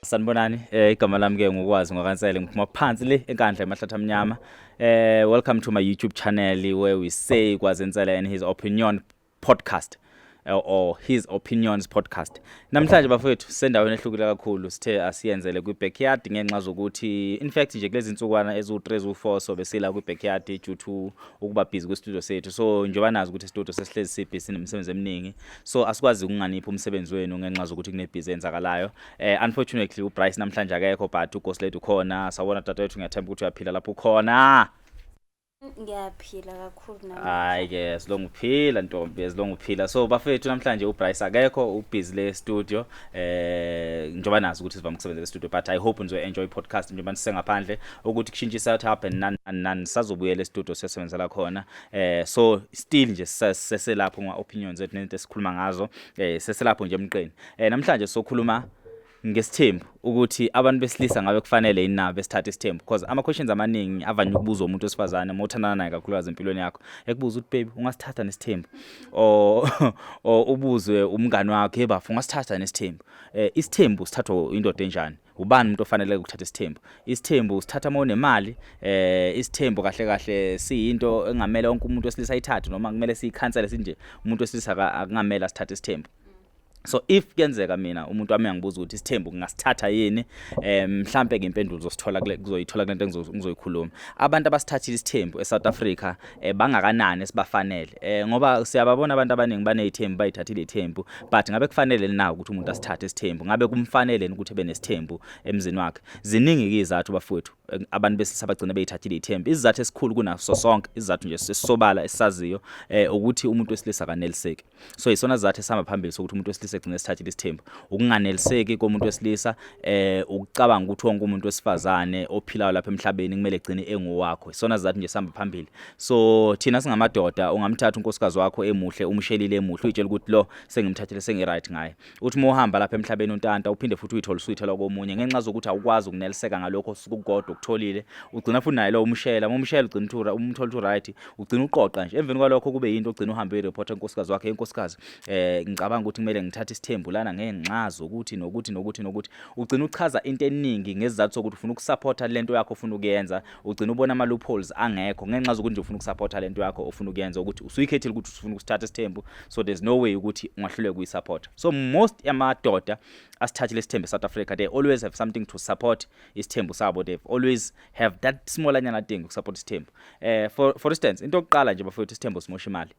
Sanibonani eh igama lami ke ngukwazi ngwakansele ngiphuma phansi le enkandla emahlathi amnyama eh welcome to my YouTube channel where we say kwazi nsele and his opinion podcast eh, or his opinions podcast namhlanje bafowethu sendaweni ehlukile kakhulu sithe asiyenzele kwi backyard ngenxa zokuthi in fact nje kulezi nsukwana ezu 3 zu 4 so besila kwi backyard due to ukuba busy kwi studio sethu so njengoba nazi ukuthi studio sesihlezi sibusy nemisebenzi eminingi so asikwazi ukunganipha umsebenzi wenu ngenxa zokuthi kune busy enzakalayo Eh unfortunately uBryce namhlanje akekho but uGhost Lady ukhona. Sawona tata wethu ngiyathemba ukuthi uyaphila lapho ukhona. Ngiyaphila kakhulu nami. Hayi ke silonga uphila ntombi silonga uphila. So bafethu namhlanje uBryce akekho ubusy le studio eh njoba nazi ukuthi sivama ukusebenzela studio but I hope nizo enjoy podcast njoba nisengaphandle ukuthi kushintshe south hub and nan nan sazobuya le studio sesebenzela khona. Eh so still nje seselapho ngwa opinions ethu nento esikhuluma ngazo eh seselapho nje emqeni. Eh namhlanje sokhuluma ngesithembu ukuthi abantu besilisa ngabe kufanele yini nabo besithathe isithembu because ama questions amaningi avanye ukubuzwa umuntu osifazane uma uthandana naye kakhulukazi empilweni yakho ekubuza ukuthi baby ungasithatha nesithembu o ubuzwe umngani wakho hey bafu ungasithatha nesithembu eh isithembu sithathwa indoda enjani ubani umuntu ofanele ukuthatha isithembu isithembu usithatha uma unemali eh isithembu kahle kahle siyinto engamele wonke umuntu wesilisa ayithathe noma kumele siyikhansele sinje umuntu wesilisa akungamela sithathe isithembu so if kuyenzeka mina umuntu wami angibuza ukuthi isithembu ngingasithatha yini eh, mhlambe ke impendulo zosithola kuzoyithola kulento engizoyikhuluma abantu abasithathile isithembu eSouth Africa eh, bangakanani sibafanele eh, ngoba siyababona abantu abaningi banezithembu bayithathile ithembu but ngabe kufanele na ukuthi umuntu asithathe isithembu ngabe kumfanele ukuthi ebe nesithembu emzini wakhe ziningi ke izathu bafowethu eh, abantu besilisa bagcina beyithathile ithembu izizathu esikhulu kunaso sonke izizathu nje sisobala esisaziyo ukuthi umuntu wesilisa kaneliseki so isona sizathu esihamba phambili sokuthi umuntu wesilisa egcine esithathile isithembu ukunganeliseki komuntu wesilisa eh ukucabanga ukuthi wonke umuntu wesifazane ophilayo lapha emhlabeni kumele egcine engowakho isona sizathu nje sihamba phambili so thina singamadoda ungamthatha unkosikazi wakho emuhle umshelile emuhle uyitshela ukuthi lo sengimthathile sengiright ngaye uthi uma uhamba lapha emhlabeni untanta uphinde futhi uyithole usuyithelwa komunye ngenxa zokuthi awukwazi ukuneliseka ngalokho osuke ukukodwa ukutholile ugcina futhi naye lowo umshela uma umshela ugcina uthi umthola uthi right ugcina uqoqa nje emveni kwalokho kube yinto ogcina uhambe uyi-report enkosikazi wakhe enkosikazi eh ngicabanga ukuthi kumele ngithathe isithembu lana ngenxa zokuthi nokuthi nokuthi nokuthi ugcina uchaza into eningi ngesizathu sokuthi ufuna ukusupporta lento yakho ufuna ukuyenza ugcina ubona ama loopholes angekho ngenxa zokuthi nje ufuna ukusupporta lento yakho ofuna ukuyenza ukuthi usuyikhethile ukuthi ufuna ukusithatha isithembu so there's no way ukuthi ungahluleka kuyisupport so most amadoda asithathile isithembu South Africa they always have something to support isithembu sabo they always have that small anyana thing ukusupport isithembu eh for for instance into yokuqala nje bafowethu isithembu simosha imali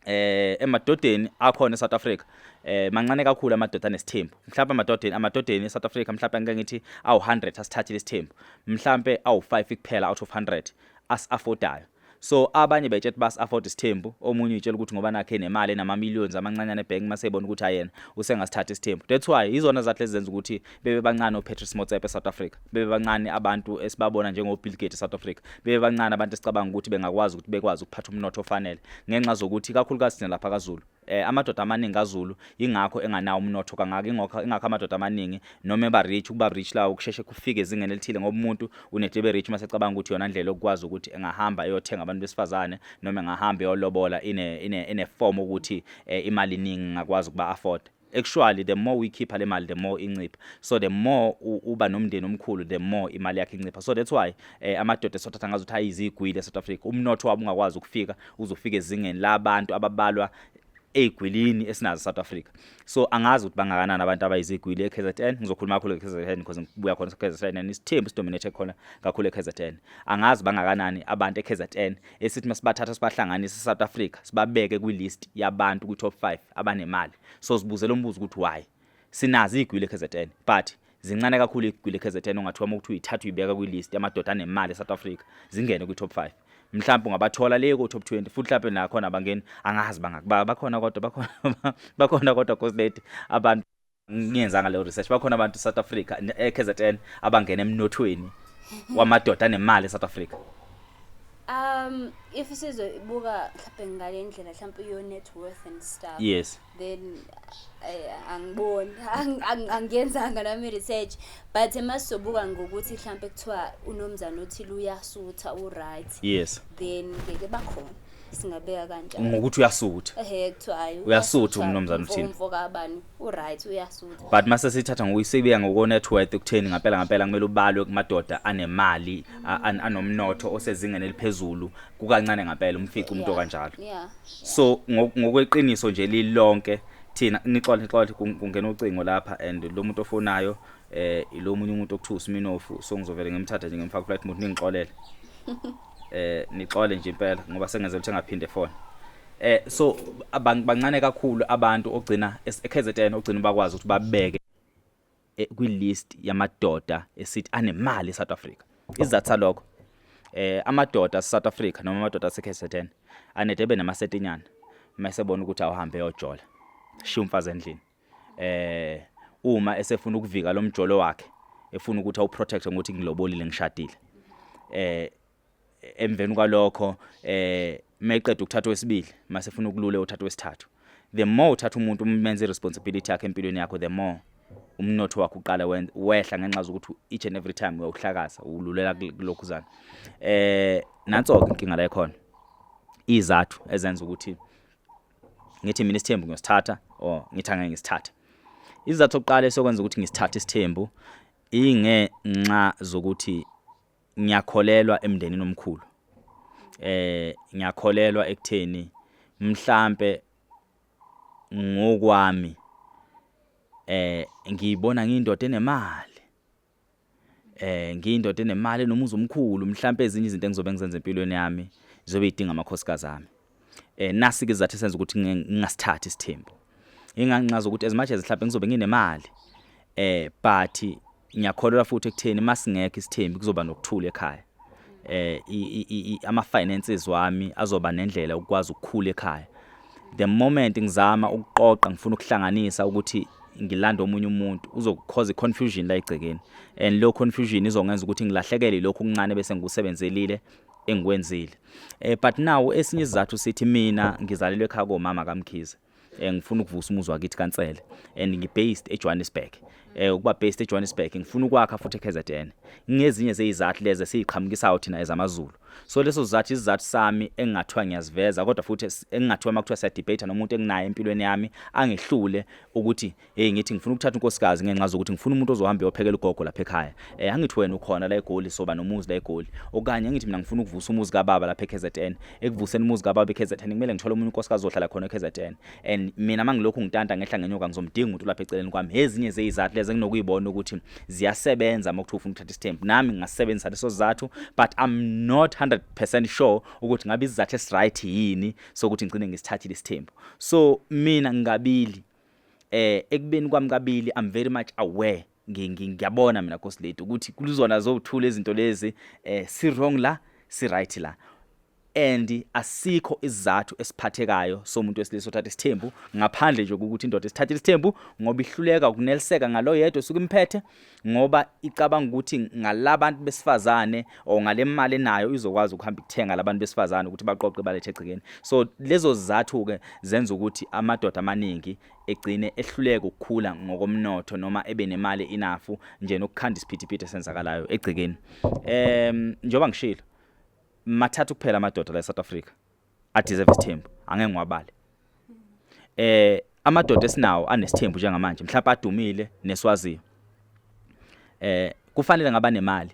eh emadodeni akhona eSouth Africa eh mancane kakhulu amadoda anesithembu mhlawumbe amadodeni amadodeni eSouth Africa mhlawumbe ngeke ngithi awu 100 asithathile isithembu mhlawumbe awu 5 kuphela out of 100 as affordayo so abanye betshe ukuthi bas afford isithembu omunye utshela ukuthi ngoba nakhe nemali enama millions amancanyane bank masebona ukuthi ayena usengasithatha isithembu that's why izona zathi lezenza ukuthi bebe bancane oPatrice Motsepe eSouth Africa bebe bancane abantu esibabona njengoBill Gates eSouth Africa bebe bancane abantu esicabanga ukuthi bengakwazi ukuthi bekwazi ukuphatha umnotho ofanele ngenxa zokuthi kakhulukazi thina lapha kaZulu eh amadoda amaningi kaZulu ingakho enganawo umnotho kangaka ingakho ingakho amadoda amaningi noma eba rich ukuba rich lawo kusheshe kufike ezingeni elithile ngoba umuntu unedebe rich mase cabanga ukuthi yona indlela okwazi ukuthi engahamba eyothenga abantu besifazane noma engahamba eyolobola ine ine ine form ukuthi eh, imali iningi ngakwazi ukuba afford actually the more uyikhipha le mali the more incipha so the more uba nomndeni omkhulu the more imali yakhe incipha so that's why eh, amadoda esothatha ngazo ukuthi ayizigwili eSouth Africa umnotho wabo ungakwazi ukufika uzofika ezingeni labantu ababalwa eyigwilini esinazo South Africa so angazi ukuthi bangakanani abantu abayizigwili eKZN ngizokhuluma kakhulu eKZN because ngibuya khona eKZN and isithembu sidominate khona kakhulu eKZN angazi bangakanani abantu eKZN esithi masibathatha sibahlanganise eSouth Africa sibabeke kwilist yabantu kwi top 5 abanemali so sibuzela umbuzo ukuthi why sinazi igwile eKZN but zincane kakhulu igwile eKZN ongathiwa uma kuthiwa ithatha uyibeka kwi-list yamadoda anemali eSouth Africa zingene kwi-top 5 mhlawumbe ungabathola le ko-top 20 futhi mhlawumbe nakhona abangeni angazi bangaki bakhona kodwa bakhona bakhona kodwa coslady abantu ngiyenzanga leyo research bakhona abantu South Africa eKZN abangena emnothweni wamadoda anemali eSouth Africa um if sizobuka mhlawumbe ngale ndlela mhlawumbe your net worth and stuff yes then eh, angiboni angiyenzanga nami research but masizobuka ngokuthi mhlawumbe kuthiwa unomzana othile uyasutha uright yes then ngeke bakhona singabeka kanjani ngokuthi uyasutha ehe kuthiwa hayi uyasutha umnumzane uthini umfo kabani uright uyasutha but mase sithatha ngokuyisebiya ngoko net worth ukutheni ngempela ngempela kumele ubalwe kumadoda anemali anomnotho osezingeni eliphezulu kukancane ngempela umfica umuntu okanjalo so ngokweqiniso nje lilonke thina nixola nixola kungena ucingo lapha and lo muntu ofonayo eh lo munye umuntu okuthiwa uSminofu so ngizovele ngimthathe nje ngimfaka flight mode ningixolele eh nixole nje impela ngoba sengenze ukuthi engaphinde phone eh so bancane kakhulu abantu ogcina eKZN ogcina bakwazi ukuthi babeke eh, kwi list yamadoda esithi anemali eSouth Africa izathu salokho eh amadoda eSouth Africa noma amadoda aseKZN anedebe namasetinyana mase bona ukuthi awuhambe yojola shiya umfazi endlini eh uma esefuna ukuvika lo mjolo wakhe efuna ukuthi awuprotect ngokuthi ngilobolile ngishadile eh emveni kwalokho eh meqeda ukuthatha wesibili mase funa ukulule uthatha wesithathu the more uthatha umuntu umenze responsibility yakhe empilweni yakho the more umnotho wakho uqala wehla ngenxa zokuthi each and every time uyawuhlakaza ululela kulokhuzana eh nanso ke inkinga la ikhona izathu ezenza ukuthi ngithi mina isithembu ngiyosithatha or ngithi angeke ngisithathe izathu oqala esokwenza ukuthi ngisithathe isithembu ingenxa zokuthi ngiyakholelwa emndenini omkhulu eh ngiyakholelwa ekutheni mhlambe ngokwami eh ngiyibona ngiyindoda enemali eh ngiyindoda enemali nomuzi omkhulu mhlawumbe ezinye izinto engizobe ngizenza empilweni yami zobe idinga amakhosikazi ami eh nasi ke zathi senza ukuthi ngingasithathi isithembu inganqaza ukuthi as much as mhlawumbe ngizobe nginemali eh but ngiyakholelwa futhi ekutheni masingekho isithembu kuzoba nokuthula ekhaya eh ama finances wami azoba nendlela ukwazi ukukhula ekhaya the moment ngizama ukuqoqa ngifuna ukuhlanganisa ukuthi ngilanda omunye umuntu uzokukhoza iconfusion la egcekeni and lo confusion izongenza ukuthi ngilahlekele lokho kuncane bese ngikusebenzelile engikwenzile eh but now esinye isizathu sithi mina ngizalelwe ekhaya komama kaMkhize eh, ngifuna ukuvusa umuzwa wakithi kaNsele and ngibased eJohannesburg eh ukuba based eJohannesburg ngifuna ukwakha futhi eKZN ngezinye zezizathu lezi esiqhamukisayo thina ezamaZulu so leso sizathu isizathu sami engingathiwa ngiyaziveza kodwa futhi engingathiwa makuthiwa siya debate nomuntu enginaye empilweni yami angehlule ukuthi hey ngithi ngifuna ukuthatha unkosikazi ngenxa zokuthi ngifuna umuntu ozohamba eyophekela ugogo lapha ekhaya eh angithi wena ukhona la eGoli soba nomuzi la eGoli okanye ngithi mina ngifuna ukuvusa umuzi kababa lapha eKZN ekuvuseni umuzi kababa eKZN kumele ngithole umuntu unkosikazi ozohlala khona eKZN and mina mangilokhu ngitanta ngehla ngenyoka ngizomdinga umuntu lapha eceleni kwami ezinye zezizathu lezi enginokuyibona ukuthi ziyasebenza uma kuthiwa ufuna ukuthatha isithembu nami ngingasebenzisa leso sizathu but i'm not 100% sure ukuthi ngabe isizathu esiright yini sokuthi ngicine ngisithathile isithembu so mina ngingabili eh ekubeni kwami kabili i'm very much aware ngiyabona mina Nkosi lethu ukuthi kuluzona zokuthula izinto lezi eh si wrong la si right la and asikho isizathu esiphathekayo somuntu wesilisa othatha isithembu ngaphandle nje ukuthi indoda isithathe isithembu ngoba ihluleka ukuneliseka ngalo yedwa suku imphethe ngoba icabanga ukuthi ngalabantu besifazane or ngale mali enayo izokwazi ukuhamba ikuthenga labantu besifazane ukuthi baqoqe balethe egcikeni so lezo zizathu ke zenza ukuthi amadoda amaningi egcine ehluleka ukukhula ngokomnotho noma ebe nemali inafu nje nokukhanda isiphithiphithi esenzakalayo egcekeni em njoba ngishilo mathatha kuphela amadoda la eSouth Africa adeserve isithembu angeke ngwabale eh amadoda esinawo anesithembu njengamanje mhlawumbe adumile neswaziyo eh kufanele ngaba nemali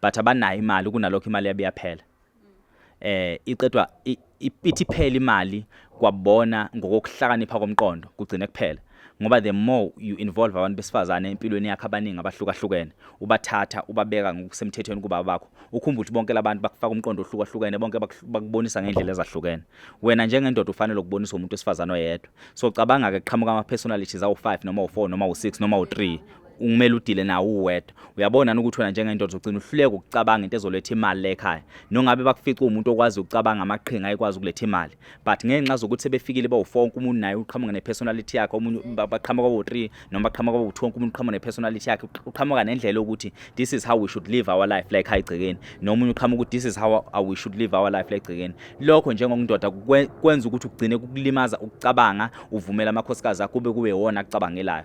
but abanayo imali kunalokho imali yabe yaphela eh iqedwa i- i- ithi phela imali kwabona ngokuhlakanipha komqondo kugcine kuphela ngoba the more you involve abantu besifazane empilweni yakhe abaningi abahlukahlukene ubathatha ubabeka ngokusemthethweni kuba bakho ukhumbula ukuthi bonke labantu bakufaka umqondo ohlukahlukene bonke bakh- bakubonisa ngendlela ezahlukene wena njengendoda ufanele ukubonisa umuntu wesifazane oyedwa so cabanga ke qhamuka ama personalities awu 5 noma u 4 noma u 6 noma u 3 ungumele udile nawo uwedwa uyabona ukuthi wena njengendoda uzogcina uhluleka ukucabanga into ezoletha imali le ekhaya nongabe bakufica umuntu okwazi ukucabanga amaqhinga ayikwazi ukuletha imali but ngenxa zokuthi sebefikile bawu-four wonke umuntu naye uqhamuka ne-personality yakhe omunye baqhamuka bawu-three noma baqhamuka bawu-two wonke umuntu uqhamuka ne-personality yakhe uqhamuka nendlela yokuthi this is how we should live our life like ekhaya egcekeni nomunye uqhamuka ukuthi this is how we should live our life like egcekeni lokho njengokundoda kwenza ukuthi ugcine kukulimaza ukucabanga uvumela amakhosikazi akho kube kuwewona akucabangelayo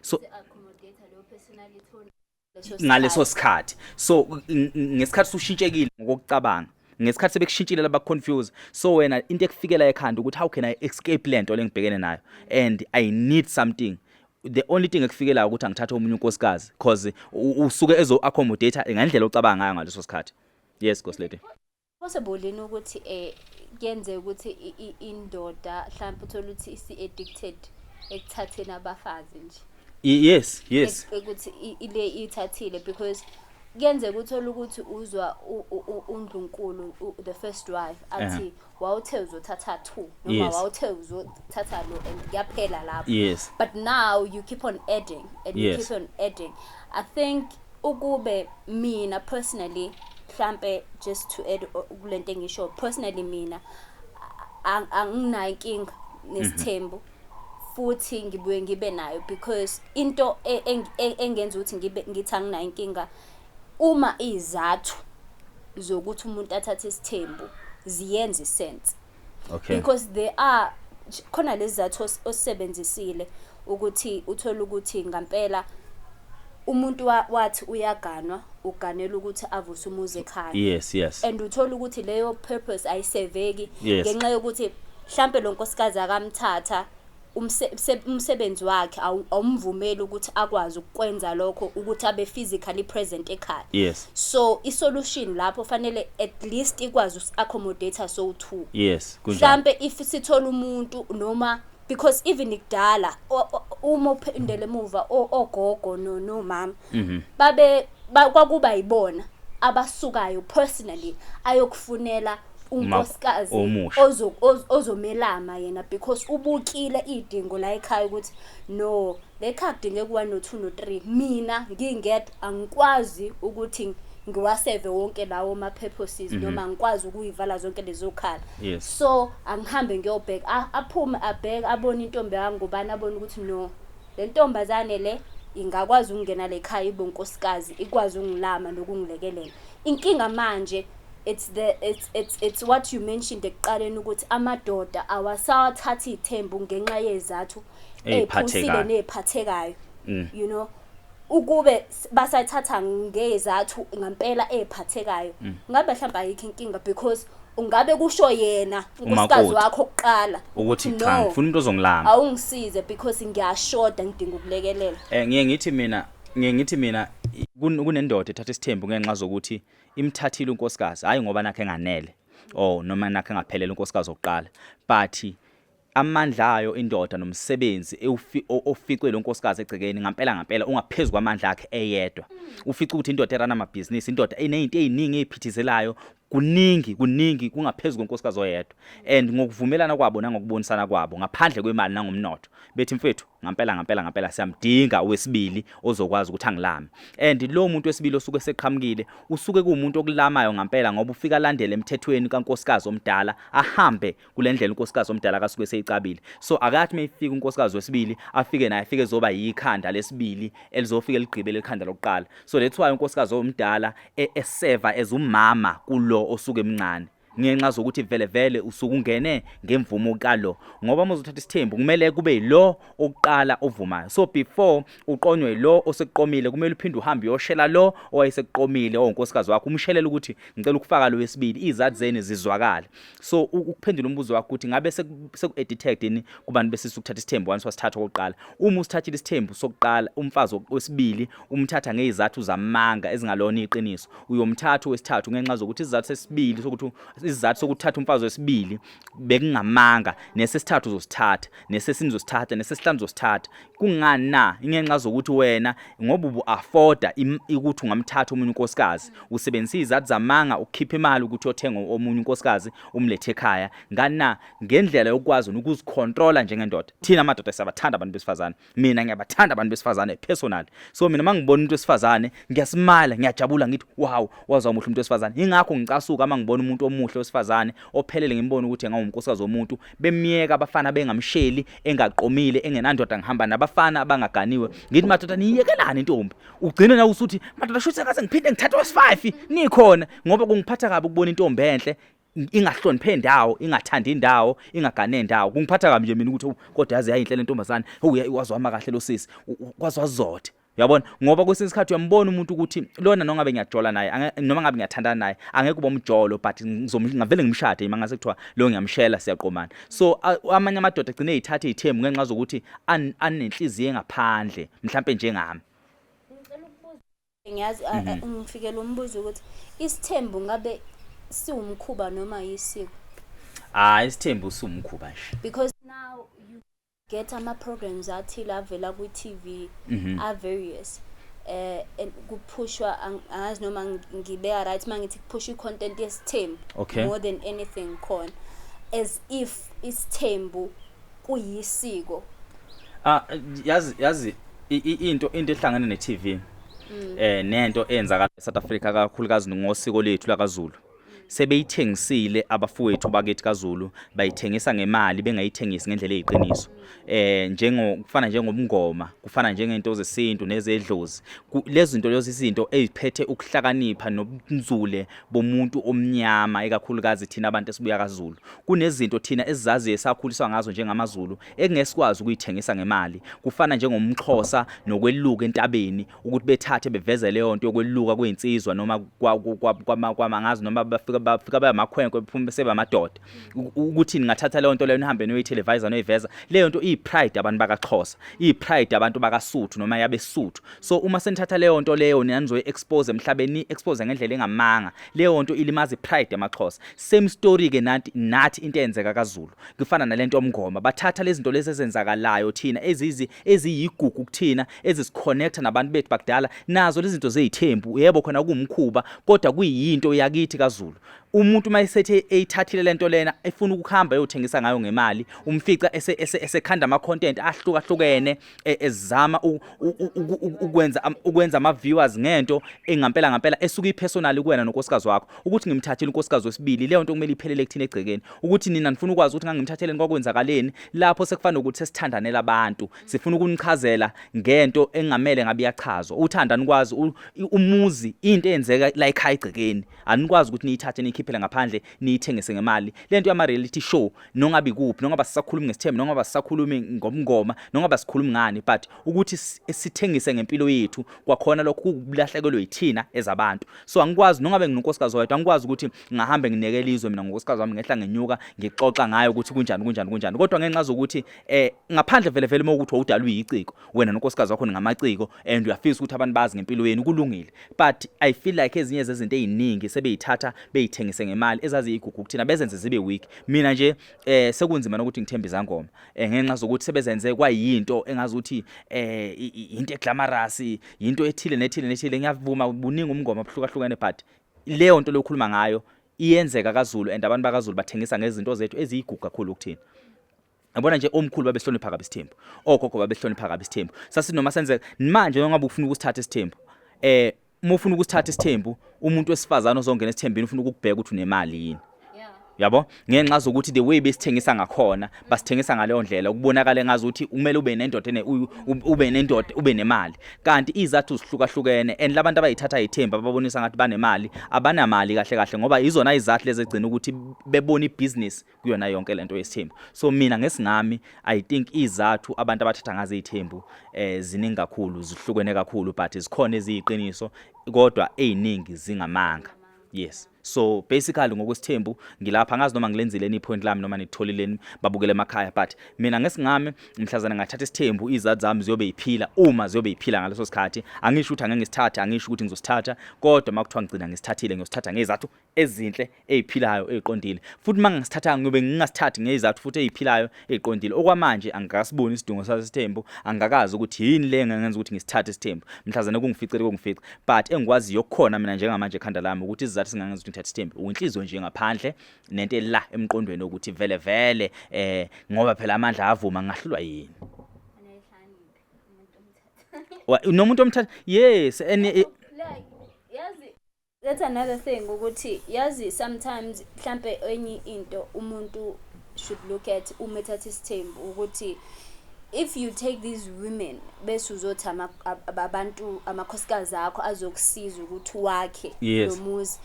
so ngaleso sikhathi so ngesikhathi ushintshekile ngokucabanga ngesikhathi sebekushintshile laba confuse so wena into ekufikela ekhanda ukuthi how can i escape lento lengibhekene nayo and i need something the only thing ekufikela ukuthi angithathe omunye unkosikazi because usuke ezo accommodate ngendlela ocabanga ngayo ngaleso sikhathi yes goslady possible yini ukuthi eh kuyenzeka ukuthi indoda mhlawumbe uthola ukuthi isi-addicted ekuthatheni abafazi nje yes yes ukuthi ile ithathile because kuyenzeka uthole ukuthi uzwa undlunkulu the first wife athi wawuthe uzothatha two noma wawuthe uzothatha lo and kuyaphela lapho yes but now you keep on adding and you keep on adding i think Ukube mina personally mhlampe just to add kulento engisho personally mina anginayo inkinga nesithembu futhi ngibuye ngibe nayo because into e, e, engenza ukuthi ngibe ngithi anginayo inkinga uma izathu zokuthi umuntu athathe isithembu ziyenza isense okay because they are khona lezi zathi osebenzisile ukuthi uthole ukuthi ngampela umuntu wathi uyaganwa uganela ukuthi avuse umuzi ekhaya yes yes and uthola ukuthi leyo purpose ayiseveki ngenxa yokuthi mhlambe lo nkosikazi akamthatha umsebenzi wakhe awumvumeli ukuthi akwazi ukwenza lokho ukuthi abe physically present ekhaya yes so i solution lapho fanele at least ikwazi us accommodate so two yes mhlambe if sithola umuntu noma because even kudala uma uphindele emuva ogogo no no mama mhm. babe kwakuba yibona abasukayo personally ayokufunela unkosikazi ozomelama yena because ubukile iy'dingo la ekhaya ukuthi no le khaya kudingeka u-one no-two no-three mina ngingedwa angikwazi ukuthi ngiwaseve wonke lawo ma-purposes mhm. noma ngikwazi ukuyivala zonke lezo khala so angihambe ngiyobheka aphume abheke abone intombi yangubani abone ukuthi no le ntombazane le ingakwazi ukungena le khaya ibe unkosikazi ikwazi ukungilama nokungilekelela inkinga manje it's the it's it's it's what you mentioned ekuqaleni ukuthi amadoda awasawathathi ithembu ngenxa yezathu eziphusile neziphathekayo mm. you know ukube basayithatha ngezathu ngampela eziphathekayo mm. ngabe mhlawumbe ayikho inkinga because ungabe kusho yena unkosikazi wakho oqala ukuthi cha ngifuna umuntu ozongilama awungisize because ngiyashoda ngidinga ukulekelela eh ngiye ngithi mina ngiye ngithi mina kunendoda ethatha isithembu ngenxa zokuthi imthathile unkosikazi hayi ngoba nakhe enganele or oh, noma nakhe engaphelele unkosikazi okuqala but amandla ayo indoda nomsebenzi oficwe lo nkosikazi egcekeni ngampela ngampela ungaphezulu kwamandla akhe eyedwa ufica ukuthi indoda erana amabhizinisi indoda inezinto eziningi eziphithizelayo kuningi kuningi kungaphezulu konkosikazi oyedwa and ngokuvumelana kwabo nangokubonisana kwabo ngaphandle kwemali nangomnotho bethi mfethu ngampela ngampela ngampela siyamdinga owesibili ozokwazi ukuthi angilame and lo muntu wesibili osuke seqhamukile usuke kuumuntu okulamayo ngampela ngoba ufika landele emthethweni kankosikazi omdala ahambe kulendlela unkosikazi omdala kasuke seyicabile so akathi mayifika unkosikazi wesibili afike naye afike zoba yikhanda lesibili elizofika ligqibele ikhanda lokuqala so that's why unkosikazi omdala e-, eseva ezumama kulo osuke emncane ngenxa zokuthi vele vele usuke ungene ngemvumo kalo ngoba uma uzothatha isithembu kumele kube yilo oqala ovumayo so before uqonywe lo osekuqomile kumele uphinde uhambe uyoshela lo owayesekuqomile onkosikazi wakho umshelela ukuthi ngicela ukufaka lo wesibili izathi zeni zizwakala so ukuphendula umbuzo wakho ukuthi ngabe seku-editect yini kubantu besisa ukuthatha isithembu once wasithatha okokuqala uma usithathile isithembu sokuqala umfazi wesibili umthatha ngezizathu zamanga ezingalona iqiniso uyomthatha wesithathu ngenxa zokuthi isizathu sesibili sokuthi isizathu sokuthatha umfazi wesibili bekungamanga nesesithathu uzosithatha nesesini uzosithatha nesesihlanu uzosithatha kungani na ingenxa zokuthi wena ngoba ubu afforda ukuthi ungamthatha umuntu unkosikazi usebenzisa izizathu zamanga ukukhipha imali ukuthi othenga omunye unkosikazi umlethe ekhaya ngani na ngendlela yokwazi ukuzicontrola njengendoda thina amadoda siyabathanda abantu besifazane mina ngiyabathanda abantu besifazane personal so mina mangibona umuntu wesifazane ngiyasmile ngiyajabula ngithi wow wazwa umuhle umuntu wesifazane ingakho ngicasuka mangibona umuntu omuhle wesifazane ophelele ngimbona ukuthi engawumkosikazi womuntu bemyeka abafana bengamsheli engaqomile engenandoda ngihamba nabafana abangaganiwe ngithi madoda niyekelani intombi ugcine na usuthi madoda shuthi akaze ngiphinde ngithathe wes5 nikhona ngoba kungiphatha kabi ukubona intombi enhle ingahloniphe indawo ingathandi indawo ingagane indawo kungiphatha kabi nje mina ukuthi kodwa yazi yayinhle lentombazane hey wazwama kahle lo sisi kwazwazothe uyabona ngoba kwesinye isikhathi uyambona umuntu ukuthi lona nongabe ngiyajola naye noma ngabe ngiyathandana naye angeke uba umjolo but ngizomngavele ngimshade yima ngase kuthiwa lo ngiyamshela siyaqomana so amanye amadoda agcine eyithathe ithemu ngenxa zokuthi anenhliziyo engaphandle mhlampe njengami Ngiyazi a- a- Mhm. ngifikelwe umbuzo ukuthi isithembu ngabe siwumkhuba noma yisiko Ah isithembu sumkhuba nje. because now you get ama programs athile avela ku TV Mhm. are various eh and kuphushwa ang- angazi noma ngi- ngibeka right mangithi kuphushwa icontent yesithembu Okay. more than anything khona as if isithembu kuyisiko ah yazi yazi into into ehlangene ne TV mm. eh nento eyenzakala eSouth Africa kakhulukazi ngosiko lethu lakaZulu sebeyithengisile abafowethu bakithi kaZulu bayithengisa ngemali bengayithengisi ngendlela eyiqiniso eh njengo kufana njengomngoma kufana njengento zesintu nezedlozi lezi zinto lezi izinto eziphethe ukuhlakanipha nobunzule bomuntu omnyama ekakhulukazi thina abantu esibuya kaZulu Kunezinto thina esizaziyo esakhuliswa ngazo njengamaZulu ekungeke sikwazi ukuyithengisa ngemali. Kufana njengomxhosa nokweluka entabeni ukuthi bethathe beveze leyo nto yokweluka kwezinsizwa noma kwamangazi noma bafika bafika bayamakhwenkwe bephume sebamadoda. Ukuthi ningathatha leyo nto leyo nihambe noyiteleviser noyiveza. Leyo nto iyipride abantu bakaXhosa, iyipride abantu bakaSuthu noma yabeSuthu. So uma senithatha leyo nto leyo nanizoyi expose emhlabeni, expose ngendlela engamanga. Leyo nto ilimaza ipride yamaXhosa. same story ke nathi nathi into eyenzeka kaZulu kufana nalento omngoma bathatha lezi zinto lezi ezenzakalayo thina ezizi eziyigugu kuthina ezisiconnecta nabantu bethu bakudala nazo lezi zinto zezithembu yebo khona kuwumkhuba kodwa kuyinto yakithi kaZulu umuntu uma esethe eyithathile lento lena efuna ukuhamba eyothengisa ngayo ngemali umfica esekhanda ama content ahlukahlukene e- ezama u- u- u- u- u- ukwenza am- ukwenza ama viewers ngento engampela ngampela esuka ipersonal kuwena nonkosikazi wakho ukuthi ngimthathele unkosikazi wesibili leyo nto kumele iphelele kuthina egcekeni ukuthi nina nifuna ukwazi ukuthi ngangimthatheleni kwakwenzakaleni lapho sekufanele ukuthi sesithandanela abantu sifuna ukunichazela ngento engamele ngabe iyachazwa uthanda nikwazi u- i- umuzi into eyenzeka la ekhaya egcekeni anikwazi ukuthi niyithathe niyikhiphele ngaphandle niyithengise ngemali lento yama reality show nongabe kuphi nongaba sisakhulumi ngesithembu nongaba sisakhulumi ngomngoma nongaba sikhulumi ngani but ukuthi sithengise ngempilo yethu kwakhona lokho kukulahlekelwe yithina ezabantu so angikwazi nongabe nginonkosikazi wethu angikwazi ukuthi ngahambe nginekele izwe mina ngonkosikazi wami ngehla ngenyuka ngixoxa ngayo ukuthi kunjani kunjani kunjani kodwa ngenxa zokuthi eh ngaphandle vele vele uma ukuthi wawudalwe yiciko wena nonkosikazi wakho ningamaciko and uyafisa ukuthi abantu bazi ngempilo yenu kulungile but i feel like ezinye zezinto eziningi sebeyithatha beyithengise ngemali ezaziyigugu kuthina bezenze zibe weak mina nje eh sekunzima nokuthi ngithembe izangoma eh, ngenxa zokuthi sebezenze kwayinto engazi ukuthi eh into eglamorous into ethile nethile nethile ngiyavuma buningi umngoma obuhlukahlukene but leyo nto lokhuluma ngayo iyenzeka kaZulu and abantu bakaZulu bathengisa ngezinto zethu eziyigugu kakhulu kuthina Yabona nje omkhulu babehlonipha kabi isithembu. Ogogo babehlonipha kabi isithembu. Sasinoma senzeka manje noma ngabe ufuna ukusithatha isithembu. Eh uma ufuna ukusithatha isithembu umuntu wesifazana ozongena esithembini ufuna ukukubheka ukuthi unemali yini. Yabo ngenxa zokuthi the way besithengisa ngakhona basithengisa ngaleyo ndlela ukubonakala engazi ukuthi kumele ube nendoda ene ube nendoda ube nemali kanti izathu zihlukahlukene and labantu abayithatha ithemba babonisa ngathi banemali abanamali kahle kahle ngoba izona izathu lezi egcina ukuthi bebona ibusiness kuyona yonke lento yesithembu so mina ngesingami i think izathu abantu abathatha ngazo izithembu eh ziningi kakhulu zihlukene kakhulu but zikhona eziyiqiniso kodwa eziningi zingamanga yes so basically ngokwesithembu ngilapha ngazi noma ngilenzile ni point lami noma nitholileni babukele emakhaya but mina ngesingami mhlazana ngathatha isithembu izathu zami ziyobe iphila uma ziyobe iphila ngaleso sikhathi angisho ukuthi angeke ngisithathe angisho ukuthi ngizosithatha kodwa makuthiwa ngigcina ngisithathile ngiyosithatha ngezathu ezinhle eziphilayo eziqondile futhi mangingasithathanga ngiyobe ngingasithathi ngezizathu futhi eziphilayo eziqondile okwamanje angikasiboni isidingo sasesithembu angikazi ukuthi yini le engenza ukuthi ngisithathe isithembu mhlazane kungificele kungifice but engikwaziyo kukhona mina njengamanje ekhanda lami ukuthi izizathu ezingangenza ukuthi ngithathe isithembu uyinhliziyo nje ngaphandle nento ela emqondweni ukuthi vele vele eh ngoba phela amandla avuma ngahlulwa yini nomuntu omthatha yes and That's another thing ukuthi yazi sometimes mhlampe enye into umuntu should look at uma ethatha isithembu ukuthi if you take these women bese uzothi abantu amakhosikazi akho azokusiza ukuthi wakhe lo muzi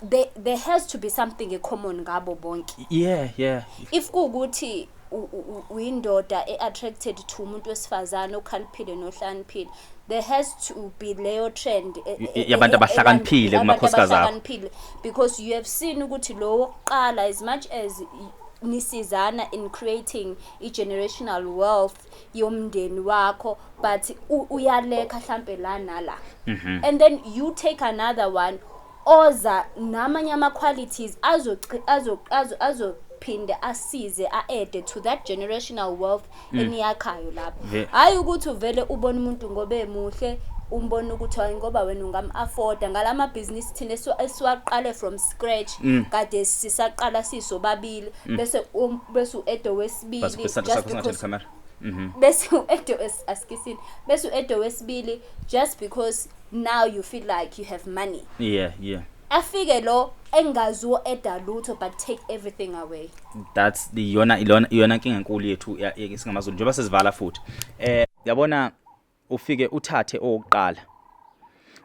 there, there has to be something common ngabo bonke yeah yeah if kuwukuthi uyindoda e-attracted to umuntu wesifazane okhaliphile nohlaniphile there has to be leyo trend e, e, e, yabantu abahlakaniphile kumakhosikazi abahlakaniphile because you have seen ukuthi lowo wokuqala as much as nisizana in creating i-generational wealth yomndeni wakho but uyalekha hlampe la nala mhm. and then you take another one oza namanye ama qualities azo azo azo azo phinde asize a-ede to that generational wealth mm. eniyakhayo lapho hhayi ukuthi uvele ubone umuntu ngoba emuhle umbona ukuthi hayi ngoba wena ungam-afforda ngala mabhizinisi thina esiwaqale from scratch mm. kade sisaqala sisobabili mm. bese um, bese u-edo wesibili Mhm. bese u-edo wes- asikisini bese u-edo wesibili just because now you feel like you have money yeah yeah afike lo engazi u-eda lutho but take everything away that's the yona ilona iyona nkinga enkulu yethu ya- ye- singamazulu njengoba sizivala futhi eh yabona ufike uthathe owokuqala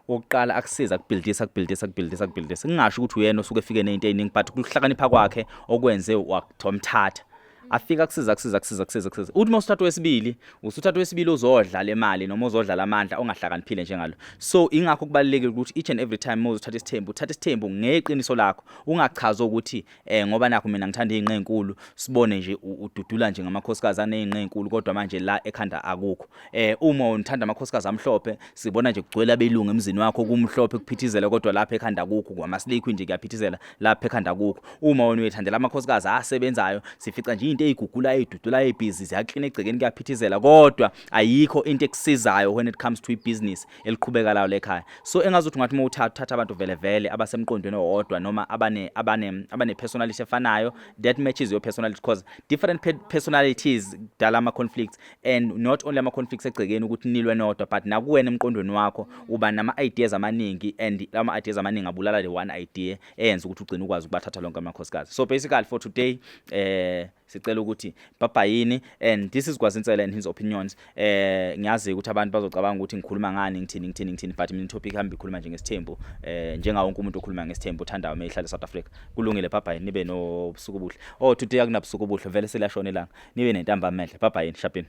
wokuqala akusiza kubhildisa kubhildisa kubhildisa kubhildisa kungasho ukuthi uyena osuke efike nezinto eziningi but kuhlakanipha kwakhe okwenze wathomthatha afika kusiza kusiza kusiza kusiza kusiza uthi mawusithatha wesibili usuthatha wesibili uzodla le mali noma uzodla lamandla ongahlakaniphile njengalo so ingakho kubalekile ukuthi each and every time mawuzothatha isithembu uthatha isithembu ngeqiniso lakho ungachaza ukuthi eh ngoba nakho mina ngithanda izinqe ezinkulu sibone nje ududula nje ngamakhosikazi anezinqe ezinkulu kodwa manje la ekhanda akukho eh uma unithanda amakhosikazi amhlophe sibona nje kugcwele abelungu emzini wakho kumhlophe kuphithizela kodwa lapha ekhanda akukho kwamaslikhwi nje kuyaphithizela lapha ekhanda akukho uma wena uyethandela amakhosikazi asebenzayo sifica nje into eyigugula eyidudula ebhizi ziyaklina egcekeni kuyaphithizela kodwa ayikho into ekusizayo when it comes to ibusiness eliqhubeka lawo lekhaya so engazi ukuthi ngathi uma uthatha uthatha abantu vele vele abasemqondweni owodwa noma abane abane abane personality efanayo that matches your personality because different pe personalities dala ama conflicts and not only ama conflicts egcekeni ukuthi nilwe nodwa but nakuwena emqondweni wakho uba nama ideas amaningi and ama ideas amaningi abulala le one idea eyenza ukuthi ugcine ukwazi ukubathatha lonke amakhosikazi so basically for today eh sicela ukuthi baba yini and this is kwazinsela and his opinions eh ngiyazi ukuthi abantu bazocabanga ukuthi ngikhuluma ngani ngithini ngithini ngithini but mina topic hamba ikhuluma nje ngesithembu eh njenga wonke umuntu okhuluma ngesithembu othandayo uma ehlala South Africa kulungile baba yini nibe nobusuku obuhle oh today akunabusuku obuhle vele selashona ilanga nibe nentamba mehle baba yini shapini